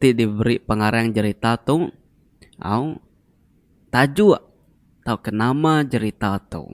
ti diberi pengarang jerita tu au tajuk tauka nama jerita tu.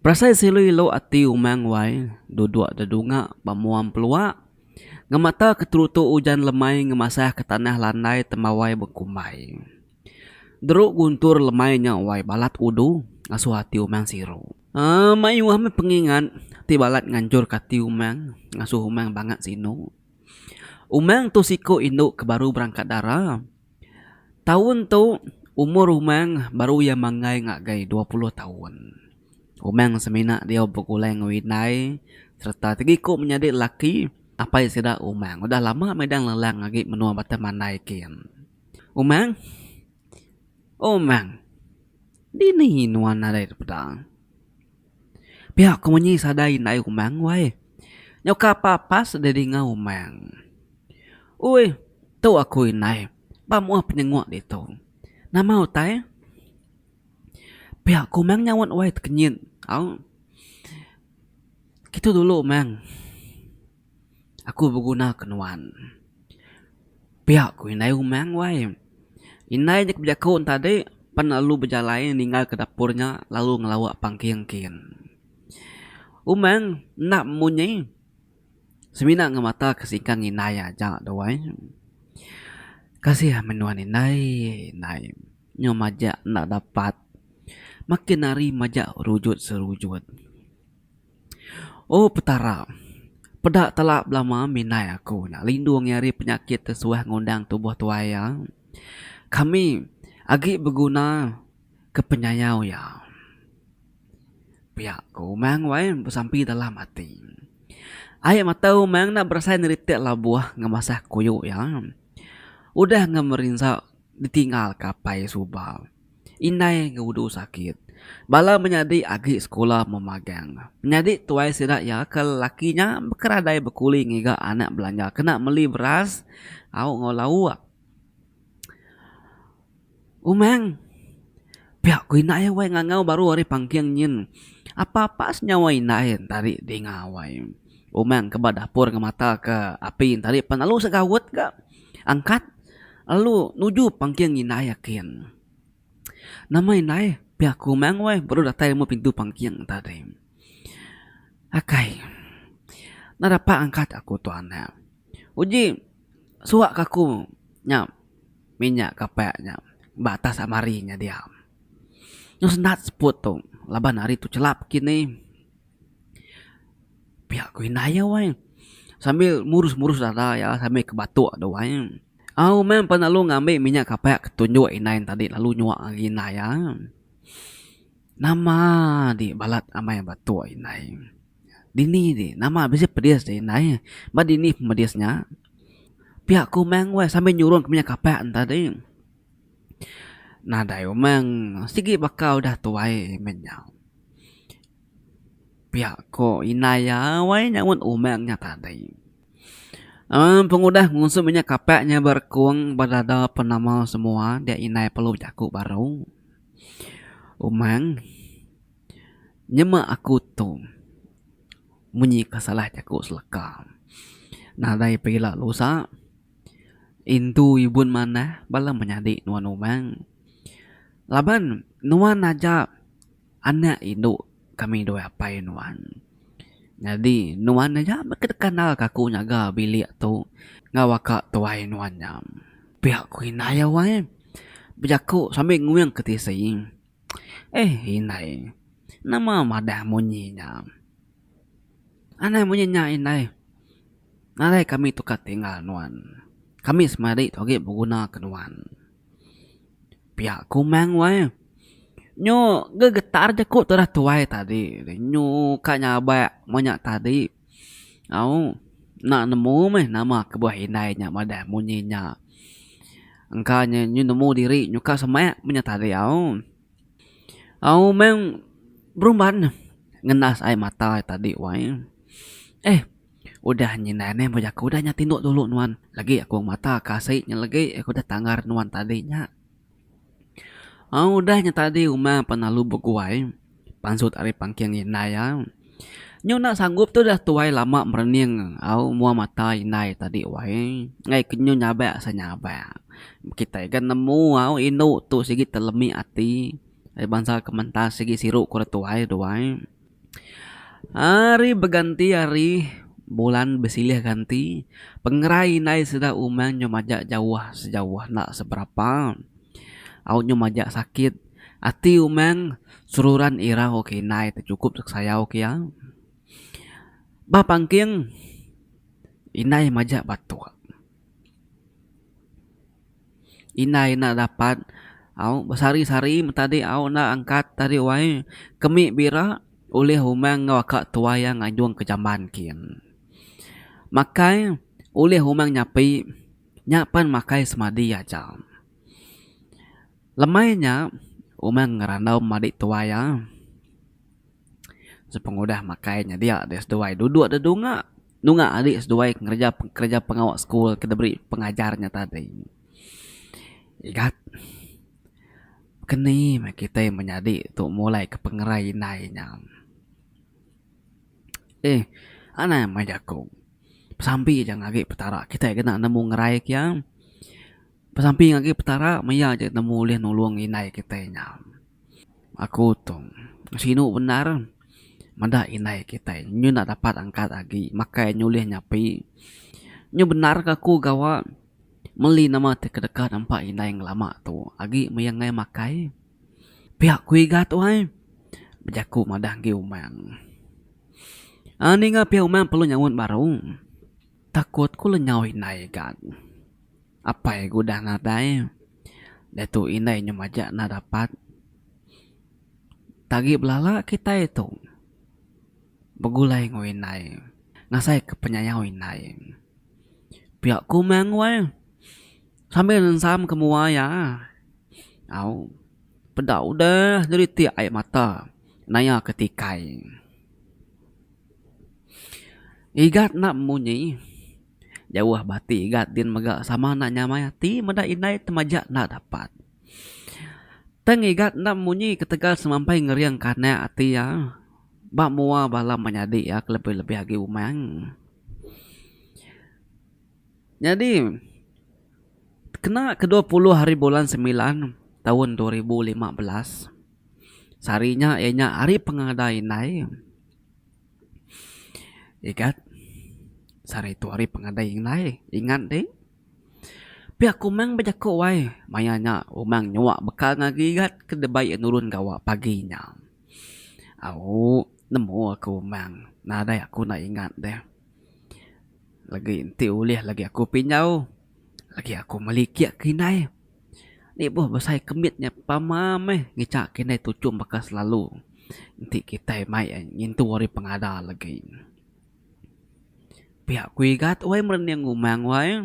Perasai silu ilu ati umang wai duduk dedunga ba muang pelua ngemata keterutu ujan lemai ngemasah ke tanah landai temawai bekumbai. Deru guntur lemai nya wai balat udu ngasuh ati umang siru. Mayuh meh pengingat ti balat nganjurka ati umang ngasuh umang bangat sinu. Umang tu siku indu ke baru berangkat dara. Taun tu umur Umang baru iya manggai ngagai dua puluh taun. Umang semina diau begulai enggau indai sereta segiku menyadi lelaki apai sida Umang udah lama medan lelang agi menua Batam Mandai kin. Umang, Umang, dini nuan nadai dipeda? Pia ku munyi sadai indai umang wai. Nyauka pa pas deh dinga umang. Ui tu aku indai ba muah penyengok ditu. Nama utai? Pia ku umang nyaut wai tekenyit au. Kitu dulu umang. aku begunaka nuan. Pia ku indai umang wai. Indai nya ke bejaku tadi pan lalu bejalai ninggalka dapur nya lalu ngelawa pangking kin. Umang enda munyi semina ngemata ke singkang indai aja tu ai. Kasih amat nuan indai, indai nyau majak enda dapat makin hari majak rujut serujut. Oh Petara, peda telak belama minai aku enda lindung iya ari penyakit ti suah ngundang tubuh tuai iya. Kami agi beguna ke penyayau iya. Pia ku Umang wai besampi dalam ati. Ai mata Umang enda berasai neritik labuh ngemasah kuyu iya. Udah ngemerinsa ditinggalka apai suba. Indai enggau udu sakit. Bala menyadi agi sekula memagang. Menyadi tuai sida iya ke lelaki nya bekeradai bekuli ngiga anak belanja kena meli beras au enggau lauk. Umang, pia ku indai wai ngangau baru ari pangking nyin. Apa-apa senyawa indai enta ri dinga wai. Umang ke ba dapur ngemataka api enta ri pan lalu segaut ga. Angkat lalu nuju pangking indai akin. Nama indai pia aku meh weh baru datai meh pintu pangking tadi. Akai enda dapat angkat aku tu anak. Uji suak ka aku nya minyak kapek nya ba atas almari nya dia. Nyu sendat seput tu laban hari tu chelap kinih. Pia ku indah iya wai sambil murus murus dada iya sambil ke batok tu wai au meh pan lalu ngambi minyak kapak ke tunjuk indai tadi lalu nyuak agi indah iya nama agi balat amai batok indai dini agi nama bisi pedis agi indai ba dini pedis nya pia ku meh wai sambil nyurung ke minyak kapak tadi nadai umang sigi baka udah tuai meh nyau. Pia ko indai iya wai nyaunt umang nya tadi. Em pengudah ngusum inya kapak nya ba rekung ba dada penama semua dia indai perlu jaku baru. Umang nyema aku tu munyi ke salah jaku seleka. Nadai pila lusa indu ibun manah bala menyadi nuan umang laban nuan aja. Anak indu kami dua apai nuan. Nyadi nuan aja ke deka nalka aku nyaga bilik tu enggau baka tuai nuan nya. Pia ku indai iya wai bejaku sambil nguing ke tisi. Eh indai nama madah munyi nya. Anang munyi nya indai nadai kami tukar tinggal nuan. Kami semadi tu agi beguna ke nuan. Pia kumang weh. Nyu gegetar jeku tu dah tuai tadi. Nyu ka nyabak meh nya tadi. Au enda nemu meh nama kebuah indai nya madah munyi nya. Engka nya nyu nemu diri nyu ka semak meh nya tadi au. Au meng berumban ngendas ai mata tadi wai. Eh. Udah nyi ndai meh meh jaku dah nya tinduk dulu nuan lagi aku mata ke asi nya lagi aku dah tanggar nuan tadi nya. Au udah nya tadi uma pan lalu beguai pansut ari pangking indai iya. Nyu enda sanggup tu dah tuai lama merening au mua mata indai tadi wai ngaih ke nyu nyabak se nyabak. Kitai ga nemu au indu tu sigi telemi ati ai bansa kementas sigi siru ku re tuai duai. Ari beganti ari, bulan besilih ganti, pengerai indai sida umang nyau majak jauh sejauh enda seberapa. Au nyau majak sakit ati umang seruran irau ke indai ti chukup dek sayau ke iya. Ba pangking indai majak batuk. Indai enda dapat au besari-sari betadi au enda angkat tadi wai kemi bira ulih umang enggau aka tuai iya ngajung ke jamban kin. Makai ulih umang nyapi nya pen makai semadi aja. Lemai nya umang ngerandau madik tuai iya sepengudah makai nya dia deh seduai duduk da dunga. Nunga ari seduai ngereja kereja pengawa sekul ke diberi pengajar nya tadi. Igat, keni meh kitai menyadi tu mulaika pengerai indai nya. Eeh, anang meh jaku. Besampi aja ngagai Petara kitai kena nemu ngeraika iya. Besamping agi Petara maya aja nemu ulih nulung indai kitai nya. Aku tu sinu bendar meda indai kitai nya nyu enda dapat angkat agi makai nyu ulih nyapi. Nyu bendar ke aku gawa meli nama ti kedeka nempa indai ngelama tu agi maya nengah makai pia ku iga tu ai bejaku madah agi umang. Aaa ninga pia umang perlu nyaut baru. Takut ku lengau indai gan. Apai ku udah nadai. Diatu indai nyau majak enda dapat. Tagi belala kitai tu begulai enggau indai ngasai ke penyayau indai. Pia ku meh anggoi sambil ensam ke mua iya. Au peda udah nyelitik ai mata naya ke tikai. Igat enda munyi jauh ba ati igat din mega sama enda nyamai ati meda indai temaja enda dapat. Tang igat enda munyi ketegal semampai ngering ke anak ati iya ba mua bala menyadi iya ke lebih-lebih agi umang. Nyadi kena ke dua puluh hari bulan semilan taun dua ribu lima belas sehari nya iya nya Hari Pengadai Indai. Igat sehari tu hari pengadai indai ingat deh. Pia ku meng bejaku ai maya nya umang nyua bekal ngagai igat ke deba iya nurun gawa pagi nya. Au nemu aku umang nadai aku enda ingat deh. Legi enti ulih legi aku pinjau legi aku meli kiye ke indai. Lebuh besai kemit nya pama meh ngicha ke indai tuchum baka selalu enti kitai mai ngintu ari pengada legi. Pia ku igat wai merening umang wai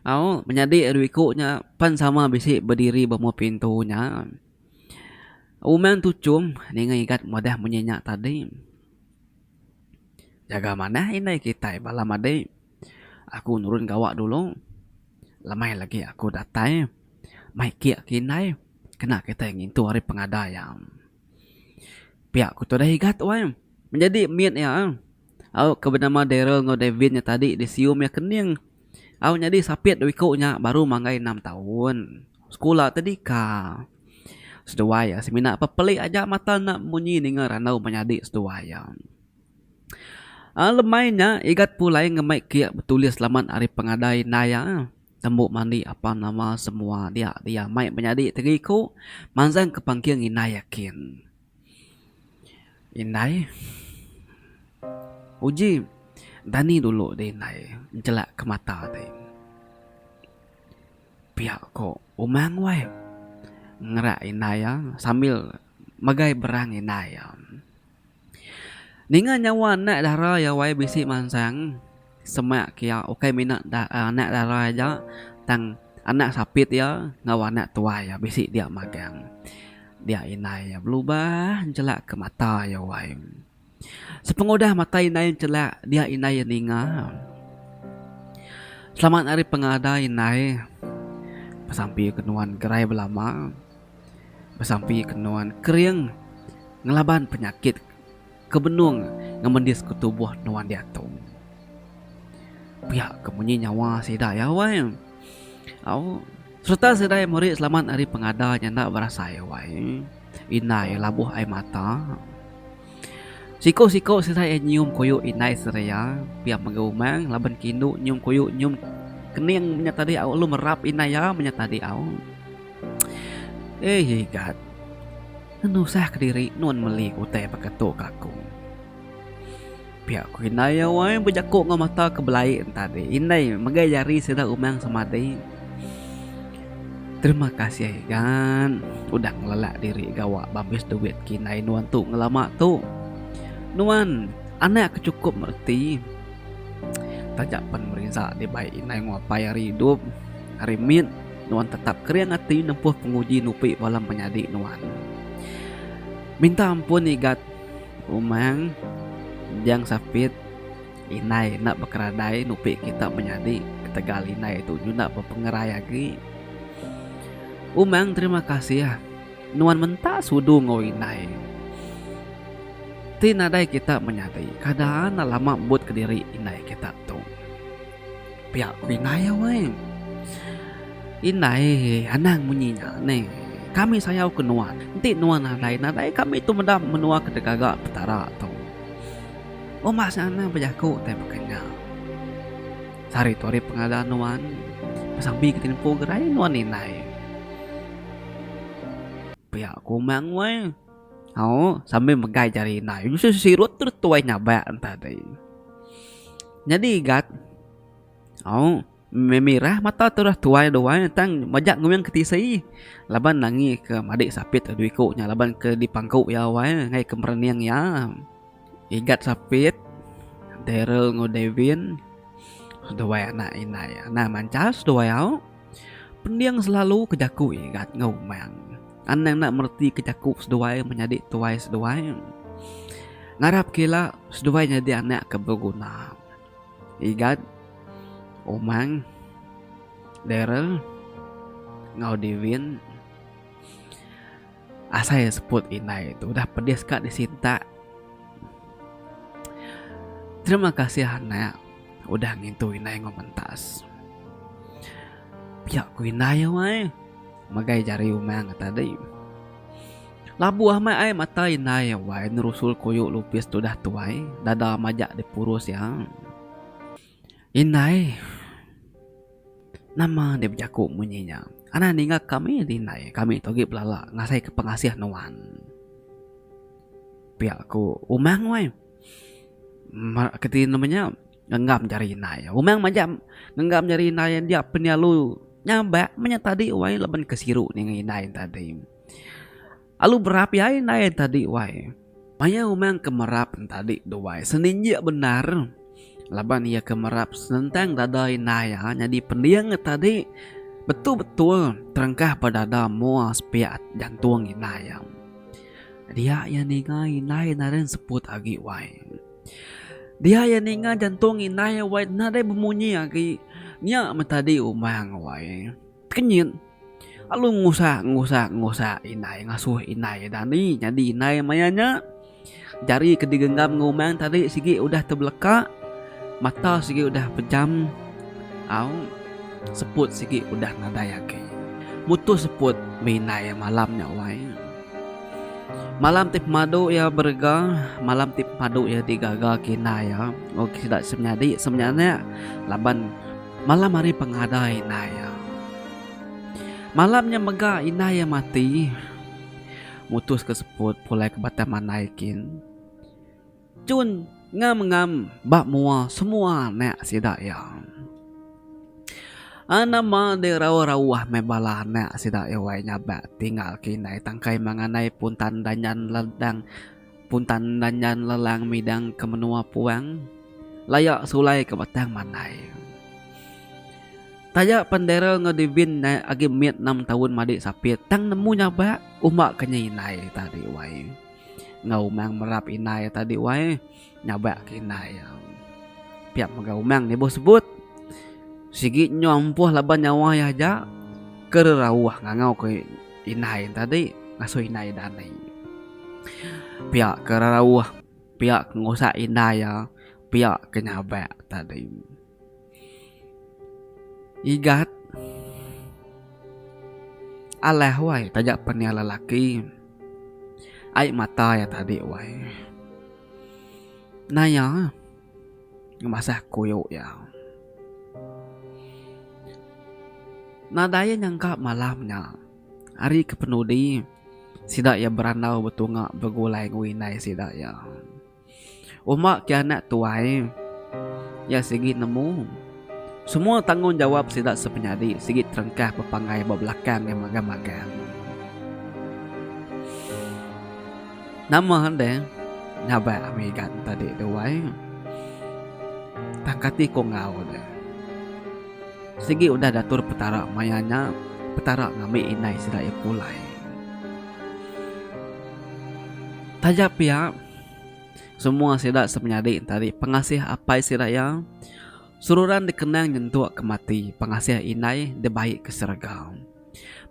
au menyadi ari iku nya pan sama bisi bediri ba mup pintu nya. Umang tuchum ninga igat madah munyi nya tadi. Jaga manah indai kitai bala madi. Aku nurun gawa dulu. Lemai lagi aku datai. Mai kiek ke indai. Kena kitai ngintu ari pengada iya. Pia ku tudah igat wai. Menyadi mit iya. Au ke benama Darryl enggau Davin nya tadi disium iya kening. Au nyadi sapit dua iku nya baru manggai enam taun. Sekula tadika. Seduai iya semina pepelik aja mata enda munyi ninga randau menyadi seduai iya. Lemai nya Igat pulai ngemai kiak betulis laman ari pengadai indai iya. Tembu mandi apan nama semua dia dia mai menyadi tegi ku manjang ke pangking indai iya kin. Indai uji dani dulu di indai nchelak ke mata ti. Pia ko umang wai ngerak indai iya sambil megai berang indai iya. Ninga nyawa anak dara iya wai bisi mansang semak kiya ukai mina anak dara aja tang anak sapit iya enggau anak tuai iya bisi dia magang dia indai iya belubah nchelak ke mata iya wai. Sepengudah mata indai nchelak dia indai iya ninga. Selamat ari pengadai indai besampi ke nuan gerai belama. Besampi ke nuan kering ngelaban penyakit ke benung ngemendis ke tubuh nuan diatu. Pia ke munyi nyawa sida iya wai. Au sereta sida iya meri selamat ari pengada nya enda berasai wai. Indai labuh ai mata. Siko-siko sida iya nyium koyok indai sereya pia mega umang laban ke indu nyium koyok nyium kening menya tadi au lalu merap indai iya menya tadi au. Eii igat ngenusah kediri nuan meli utai baka tu ka aku. Pia ku indai iya wai bejaku enggau mata ke belai entadi. Indai megai jari sida umang semadi. Terima kasih gan udah ngelelak diri gawa bambis duit ke indai nuan tu ngelama tu. Nuan anak ke chukup mereti taja pen merinsa dibai indai nguapai ari idup. Ari mit nuan tetap kering ati nempuh penguji nupi bala menyadi nuan. Minta ampun igat. Umang, Jang Sapit, Indai enda bekeradai nupi kita menyadi ketegal indai tu nyuda bepengerai agi. Umang, Terima kasih. Nuan menta sudu enggau indai ti nadai kita menyadi. Kada lama mbut kediri indai kita tu. Pia ku indai weh. Indai anang munyi nya neh. Kami sayau ke nuan. Enti nuan nadai nadai kami tu meda menua ke digaga petara tu. Uma seh anang bejaku tai baka nya. Sehari tu hari pengada nuan besambi ke tempo gerai nuan indai. Pia ku umang weh. Au, sambil megai jari indai. Yusus sirut terus tuai nyabak entah tadi. Nyadi igat. Au, memirah mata terus tuai duai tang majak nguing ke tisi. Laban nangi ke madik sapit adu iku nya laban ke di pangku iya wai ngai ke merening iya. Igat sapit Darrel enggau Davin duai anak indai. Anang mancas duai au. Pending selalu ke jaku igat enggau umang. Anang enda mereti ke jaku seduai menyadi tuai seduai. Ngarapka ila seduai nyadi anak ke beguna. Igat Umang Darrel enggau Devin. Asai seput indai tu udah pedis ka disintak. Terima kasih anak udah ngintu indai enggau mentas. Piak ku indai wai. Megai jari umang tadi. Labuh amat ai mata indai wai nerusul koyok lupis tu dah tuai. Dada majak dipurus iya. Indai. Nama deh bejaku munyi nya. Anang ninga kami deh indai. Kami tu agi belala ngasai ke pengasih nuan. Pia ku Umang weh. Meh keti nama nya ngenggam jari indai. Umang majak ngenggam jari indai dia penyalu nyabak meh nya tadi weh laban ke siru ninga indai tadi. Alu berapi ai endai enta di wai. Maya umang ke merap enta di duai seninjik bendar laban iya ke merap senentang dada indai iya nyadi pending enta di betul-betul terengkah ba dada mua sepiak jantung indai iya. Dia iya ninga indai nadai seput agi wai. Dia iya ninga jantung indai iya wai nadai bemunyi agi nya meh tadi umang wai. Kenyit, lalu ngusah ngusah ngusah indai ngasuh indai eda andi nyadi indai maya nya. Jari ke digenggam enggau umang tadi sigi udah tebeleka, mata sigi udah pejam, au seput sigi udah nadai agi. Mutus seput meh indai iya malam nya wai. Malam ti pemadu iya berega, malam ti pemadu iya digaga ke indai iya enggau sida semenyadi semenyanak laban. Malam hari pengadai indai iya. Malam nya mega indai iya mati, mutuska seput pulai ke batang mandai kin. Jun ngam-ngam ba mua semua anak sida iya. Nama deh rauh-rauh meh bala anak sida iya wai nyabak tinggal ke indai tangkai manganai pun tanda nyan ladang. Puntan Danjan Lelang midang ke menua puang laya sulai ke batang mandai. Taja pen Darrel enggau Devin nae agi mit enam taun madik sapit tang nemu nyabak uma ke nya indai ta dik wai. Enggau umang merap indai ta dik wai nyabak ke indai iya. Pia mega umang nibuh sebut. Sigi nyau empuh laban nyawa iya aja ke rerauh ngangau ke Indai tadi ngasuh indai dani. Pia ke rarauh, pia ke ngusak indai iya, pia ke nyabak tadi. Igat alah wai taja pen iya lelaki. Ai mata iya tadi wai. Naya. Ngemasah kuyo iya. Nadai iya nyangka malam nya, hari ke penudi, sida iya berandau betunga begulai enggau indai sida iya. Uma kianak tuai iya sigi nemu. Semua tanggungjawap sida sepenyadi sigi terengkah bepanggai ba belakang iya magang-magang. Nama enda nyabak ami ga tadi tu wai. Tang kati ku enggau ne. Sigi udah datur Petara maya nya, Petara ngambi indai sida iya pulai. Taja pia. Semua sida semenyadi entari pengasih apai sida iya. Seruran dikenang nyentuk ke mati, pengasih indai dibai ke serega.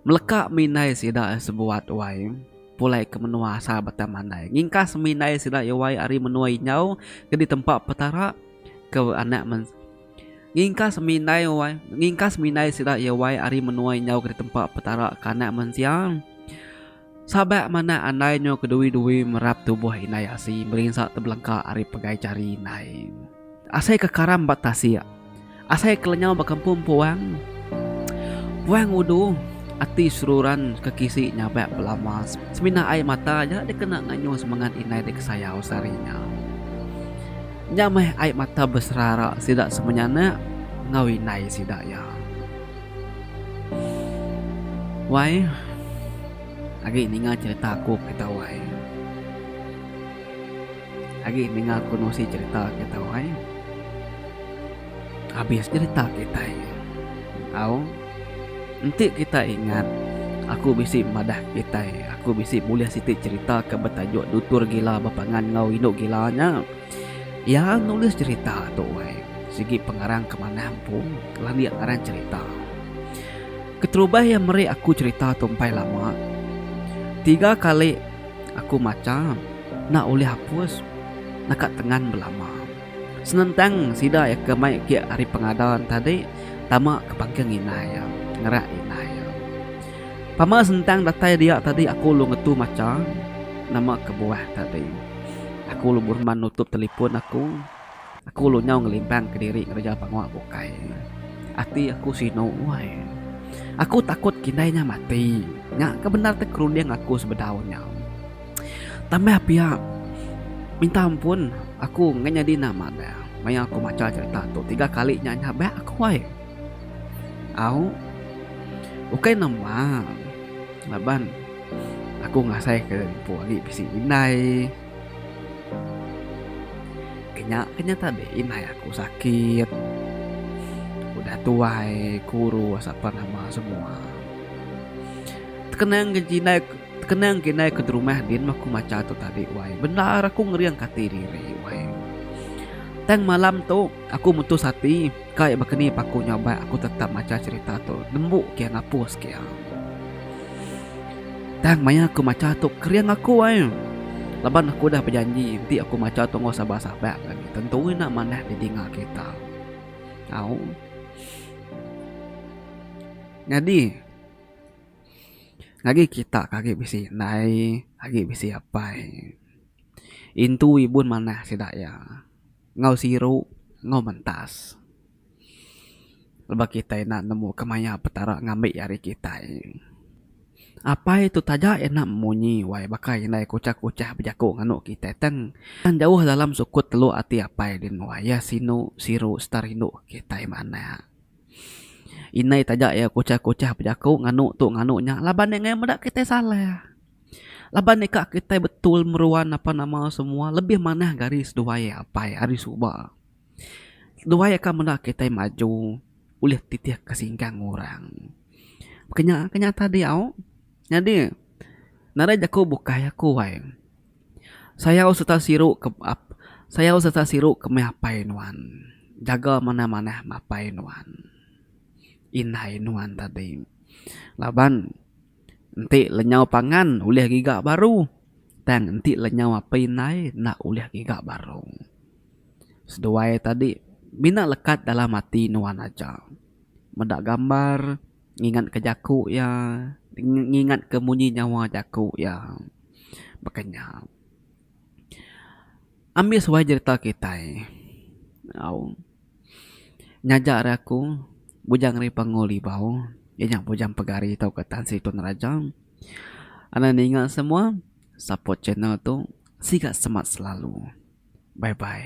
Meleka mih indai sida iya sebuat wai pulai ke menua asal Batang Mandai. Ngingkas mih indai sida iya wai ari menua Injau ke ditempa Petara ke anak men ngingkas mih indai wai ngingkas mih indai sida iya wai ari menua Injau ke ditempa Petara ke anak mensia. Sabak manah andai nyo kedui-dui merap tubuh indai asi berinsa tebelengka ari pegai jari indai. Asai ke karam ba tasik. Asai ke lenyau ba kempum puang. Puang udu, ati seruran ke kisi nyabak belama semina ai mata aja dikena nganyu semengat indai dikesayau sehari nya. Nya meh ai mata beserara sida semenyanak enggau indai sida iya. Wai agi ninga cerita aku kereta wai agi ninga aku nusi cerita kereta wai abis cerita kitai tau enti kita ingat aku bisi madah kitai aku bisi bulih siti cerita ke betajuk dutur gila bepangan enggau indu gila nya. Iya nulis cherita tu weh sigi pengarang ke manah empu landik ngaran cherita. Keterubah iya meri aku cherita tu empai lama. Tiga kali aku macha enda ulih hapus naka tengan belama. Senentang sida iya ke mai agi ari pengadan tadi tama ke pangkeng inai iya ngerak inai iya. Pama sentang datai dia tadi aku lu ngetu macha nama kebuah tadi. Aku lu berman nutup telefon aku. Aku lu nyau ngelimbang ke diri ngereja pengua bukai. Ati aku sinu wai. Aku takut kindai nya mati. Nya ke bendar ti kerunding aku sebedau nya. Tambah pia minta ampun aku nganyadi nama dia maya aku macha cherita tu tiga kali nya nya ba aku ai. Au. Ukai nama. Laban aku ngasaika empu agi bisi indai. Ke nya ke nya tadi indai aku sakit. Udah tuai kuru asapa nama semua. Tekenang ke indai tekenang ke indai aku ti rumah din meh aku macha tu tadi wai. Bendar aku ngeringka ati diri wai. Tang malam tu aku mutus ati. Kai baka ni paku nya ubai aku tetap macha cherita tu nembu kia ngapus kia. Tang maya aku macha tu kering aku ai. Laban aku udah bejanji enti aku macha tu enggau saban saban lagi tentu ina manah di tinga kita. Au. Nyadi agi kita ke agi bisi indai agi bisi apai intu ibun manah sida iya. Enggau siru, enggau mentas. Lebuh kitai enda nemu kemaya Petara ngambi ari kitai. Apai tu taja enda munyi wai baka indai kuchah-kuchah bejaku nganu kitai tang tang jauh dalam sukut teluk ati apai din wai iya sinu siru serta rindu kitai meh anak. Indai taja iya kuchah-kuchah bejaku nganu tu nganu nya laban iya ngayan meda kitai salah. Laban nika kitai betul meruan napa nama semua lebih manah ke ari seduai apai ari suba. Seduai akan meda kitai maju ulih titih ke singkang orang. Ke nya ke nya tadi au nyadi nadai jaku bukai aku ai. Sayau sereta siru ke sayau sereta siru ke meh apai nuan. Jaga manah manah apai nuan indai nuan tadi laban. Enti lenyau pangan ulih giga baru tang enti lenyau api indai enda ulih giga baru. Seduai tadi mina lekat dalam ati nuan aja. Meda gambar ngingatka jaku iya ngingatka munyi nyawa jaku iya. Baka nya. Ambi suai jerita kitai. Au. Nyaja ari aku, Bujang Ri Pangu Libau, iya nya Bujang Pegari tauka Tan Sri Tun Raja. Anang ninga semua, support channel tu. Siga semat selalu. Bye bye.